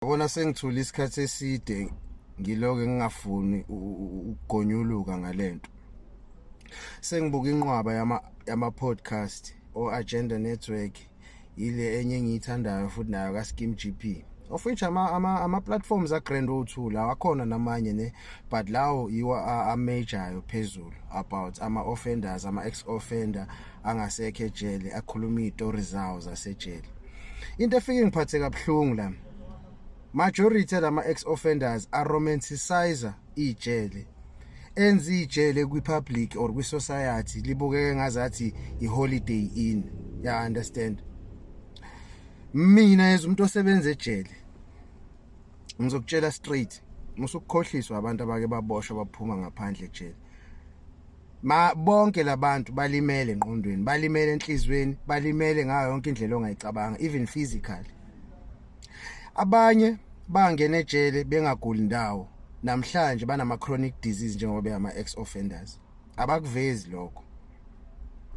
Yabona sengithule isikhathi eside ngiloke ngingafuni ukugonyuluka ngalento. Sengibuka inqwaba yama yama podcast o Agenda Network ile enye engiyithandayo futhi nayo ka Skim GP. Of which ama ama ama platforms a Grand O2 lawa khona namanye ne but lawo yiwa a major phezulu about ama offenders ama ex offender angasekho ejele akhuluma izitori zawo zasejele into efike ngiphathe kabuhlungu la majority lama ex offenders are romanticizer ijele enza ijele kwi public or kwi society libukeke ngazathi i holiday in ya understand mina as umuntu osebenza ejele ngizokutshela straight musukukhohliswa abantu abake baboshwa baphuma ngaphandle ejele ma bonke labantu balimele enqondweni balimele enhlizweni balimele ngayo yonke indlela ongayicabanga even physically abanye bangena ejele bengaguli ndawo namhlanje banama chronic disease njengoba beyama ex offenders abakuvezi lokho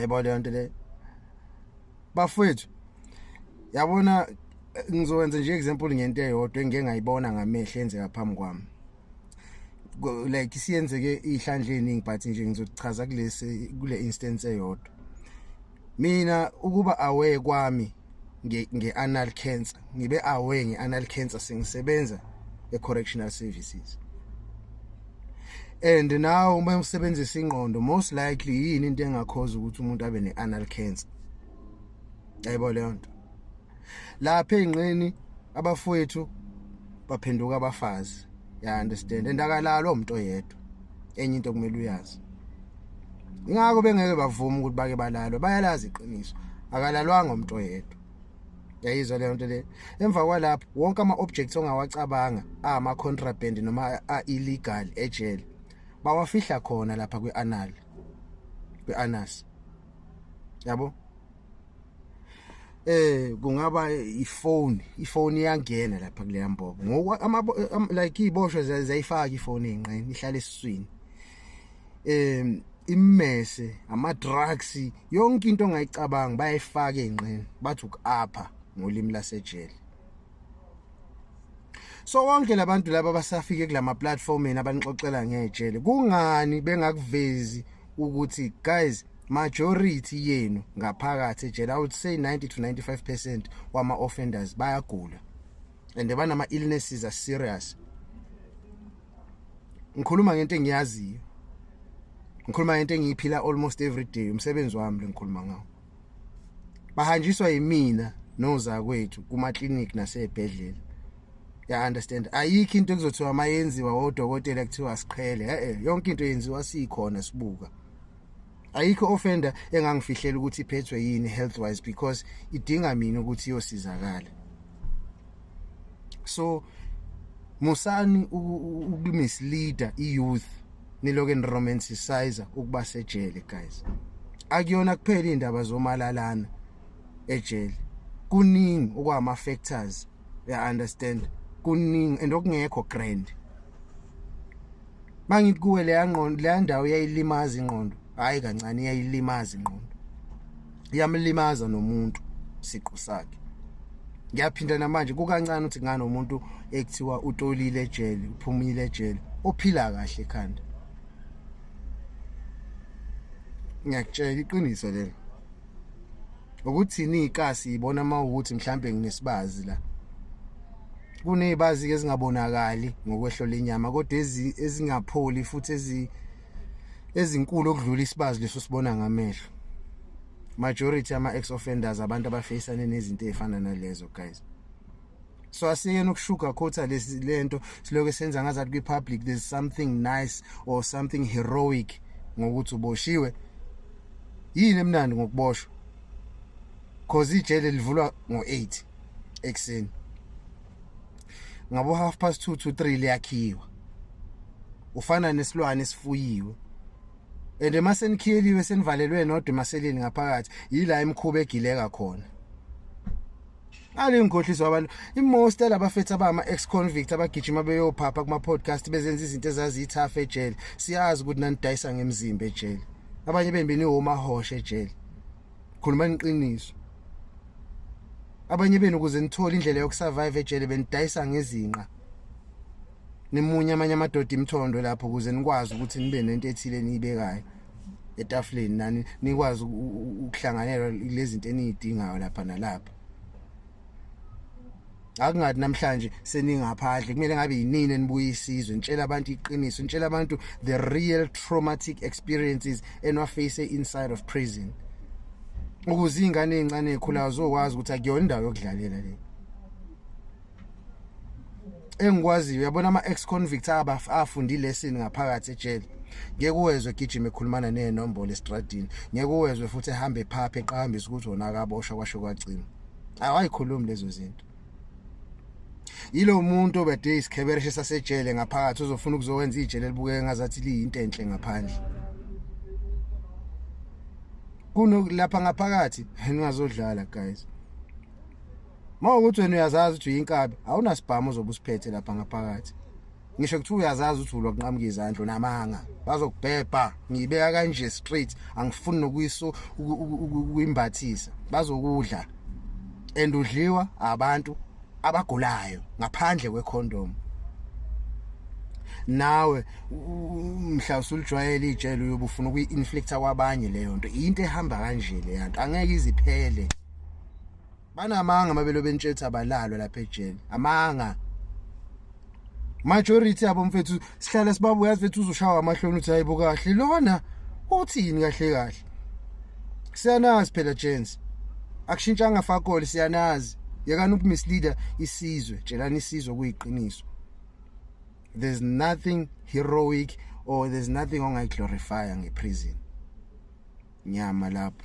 yebo le nto le bafwethu yabona ngizokwenza nje example ngento eyodwa engike ngayibona ngamehlo enzeka phambi kwami like siyenzeke ihlandle eningi but nje ngizochaza kulesi kule instance eyodwa mina ukuba aware kwami nge-anal cancer ngibe aware nge-anal cancer sengisebenza e-correctional services and now uma usebenzisa ingqondo most likely yini into engakhoza ukuthi umuntu abe ne-anal cancer yayibona leyo nto lapha ezinqeni abafowethu baphenduka abafazi ya understand endakalalo umuntu oyedwa enye into kumele uyazi ingakho bengeke bavuma ukuthi bake balalwe bayalazi iqiniso akalalwanga umuntu oyedwa yayizwa leyo nto le emva kwalapho wonke ama-objects ongawacabanga ama-contraband noma a-illegal ejele bawafihla khona lapha kwi-anal kweAnus yabo eh kungaba ifone ifone iyangena lapha kuleya mbobo ngoku like iboshwe zayifaka ifone enqeni ihlala esiswini em immese ama drugs yonke into ongayicabanga bayifaka enqeni bathi ukuapha ngolimi lasejele so wonke labantu laba basafike kulama platform yena abanixoxela ngejele kungani bengakuvezi ukuthi guys majority yenu ngaphakathi ejele i would say 90 to 95% wama offenders bayagula and banama illnesses are serious ngikhuluma ngento engiyaziyo ngikhuluma ngento engiyiphila almost every day umsebenzi wami lengikhuluma ngawo bahanjiswa yimina nozakwethu kuma clinic nasebhedlela ya understand ayikho into ekuzothiwa mayenziwa odokotela kuthiwa siqhele eh yonke into yenziwa sikhona sibuka ayikho offender engangifihlela ukuthi iphethwe yini health wise because idinga mina ukuthi iyosizakala so musani ukumisleader iyouth niloke niromanticizer ukuba sejele guys akuyona kuphela indaba zomalalana ejele kuningi okwama factors ya understand kuningi and okungekho grand mangithi kuwe leya ngqondo leya ndawo yayilimaza ingqondo hayi kancane yayilimaza ingqondo iyamlimaza nomuntu siqu sakhe ngiyaphinda namanje kukancane ukuthi nganomuntu ekuthiwa utolile ejele uphumile ejele ophila kahle ekhanda ngiyakutshela iqiniso lelo ukuthini ikasi ibona uma ukuthi mhlambe nginesibazi la kunezibazi ke ezingabonakali ngokwehlo lenyama kodwa ezingapholi futhi ezi ezinkulu okudlula isibazi leso sibona ngamehlo majority ama ex offenders abantu abafacane nezinto ezifana nalezo guys so asiyeni ukushuga khotha lesi lento siloke senza ngazathi kwi public there's something nice or something heroic ngokuthi uboshiwe yini emnandi ngokuboshwa cause ijele livulwa ngo8 ekseni ngabo half past 2 to 3 liyakhiwa ufana nesilwane sifuyiwe and uma senikhiyeliwe senivalelwe nodwa emaseleni ngaphakathi yila imkhuba egileka khona alingikhohliswa abantu imost alabafethu abama ex convict abagijima beyophapha kuma podcast bezenza izinto ezaziyithafa ejele siyazi ukuthi nanidayisa ngemzimba ejele abanye bembeni homa hoshe ejele khuluma iqiniso abanye benu kuze nithole indlela yokusurvive ejele benidayisa ngezinqa nimunye amanye amadoda imthondo lapho kuze nikwazi ukuthi nibe nento ethile niyibekayo etafuleni nani nikwazi ukuhlanganela lezinto eniyidingayo lapha nalapha akungathi namhlanje seningaphandle kumele ngabe yinini enibuye isizwe nitshela abantu iqiniso nitshela abantu the real traumatic experiences enwaface inside of prison ukuze ingane ezincane ekhulayo zokwazi ukuthi akuyona indawo yokudlalela le engikwaziyo uyabona ama ex convicts abafundi lesson ngaphakathi ejele ngeke uwezwe egijima ekhulumana nezinombolo estradini ngeke uwezwe futhi ehamba ephaphe eqhambisa ukuthi wona akaboshwa kwasho kwagcina awayikhulumi lezo zinto yilo muntu obede isikhebereshe sasejele ngaphakathi uzofuna ukuzowenza ijele libukeke ngazathi liyinto enhle ngaphandle kuno lapha ngaphakathi ningazodlala guys Uma ukuthi wena uyazazi ukuthi uyinkabi, awunasibhamu ozobe usiphethe lapha ngaphakathi. Ngisho kuthiwa uyazazi ukuthi ulwa kunqamuka izandla namanga. Bazokubhebha, ngiyibeka kanje straight, angifuni nokuyiso ukuyimbathisa. Bazokudla. Endudliwa abantu abagulayo ngaphandle kwecondom. nawe mhla usulijwayele ijele uyobufuna ukuyi-inflicta kwabanye leyo nto into ehamba kanje leyanto angeke iziphele banamanga amabelo bentshetha abalalwa lapha ejele amanga majority yabo mfethu sihlala sibabuya yazi fethu uzoshawa amahloni uthi hayibo kahle lona uthini kahle kahle siyanazi phela gents akushintshanga fakole siyanazi yekani ukumisleader isizwe tshelani isizwe kuyiqiniso there's nothing heroic or there's nothing ongayiglorifya ngeprison nyama lapho